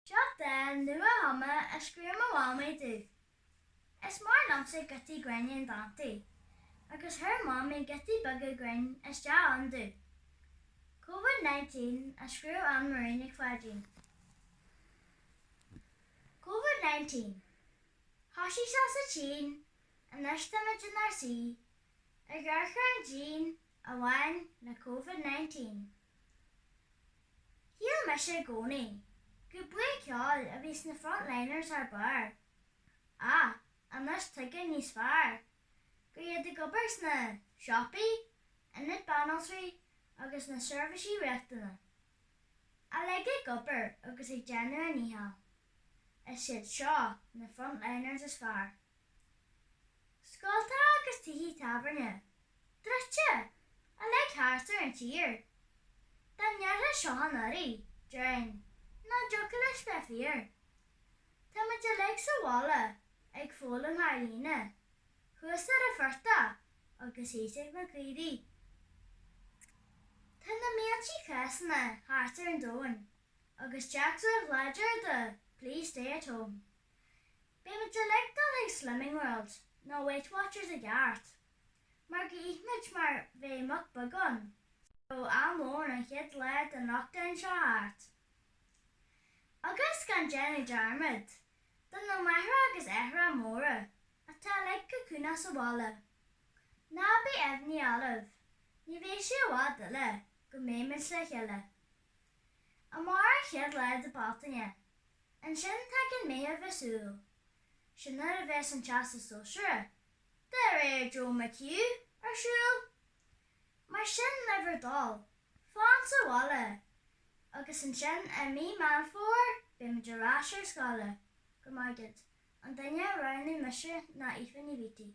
Seo dán nua-chumtha a scríobh mo mhamaí domh. Is maith liomsa giotaí grinn in dántaí, agus chuir mamaí giotaí beaga grinn isteach ann domh. Covid nineteen a scríobh Ann Marie Nic Pháidín. Covid nineteen Thosaigh sé sa tSín, anois tá muid inár suí, ag amharc ar an díon, a bhain le Covid 19. Shíl mise i gcónaí gur buíon ceoil a bhí sna Frontliners thar barr, ach anois tuigim níos fearr gur iad ag obair sna siopaí, ionad banaltraí agus na seirbhísí riachtanach, uilig ag obair agus ag déanamh a ndícheall. Is iad seo na Frontliners is fearr. Scoltacha agus tithe tábhairne druidte uilig thart ar an tír dá ndéarfá seo anuraidh, déarfainn nach dtiocfadh leis bheith fíor. Tá muid uilig sa bhaile ag foghlaim thar líne thuas ar an phortach agus thíos ag na caoirigh. Tá na mílte cásanna thart ar an domhan agus téacs an-láidir de 'Please stay at home'. Beidh muid uilig dul ag Slimming World nó Weight Watchers i gceart, mar gur ith muid mar bheadh muc beagán de ó am lóin an chéad lá den lockdown seo thart. Agus, gan déanamh dearmad de na máithreacha agus aithreacha móra atá uilig ag cocúnú sa bhaile. Ná bíodh imní oraibh, ní bheidh sé i bhfad eile go mbeidh muid le chéile. Amárach an chéad lá de Bealtaine. Ansin tagann Meitheamh is Iúil. Sin nuair a bheas an Teastas Sóisearach, de réir Joe McHugh, ar siúl. Mar sin le bhur dtoil, fan sa bhaile! Agus ansin i mí Meán Fómhair beidh muid ar ais ar scoile. Go raibh maith agat, an duine a roghnaigh mise ná Aoife Ní Bheataigh.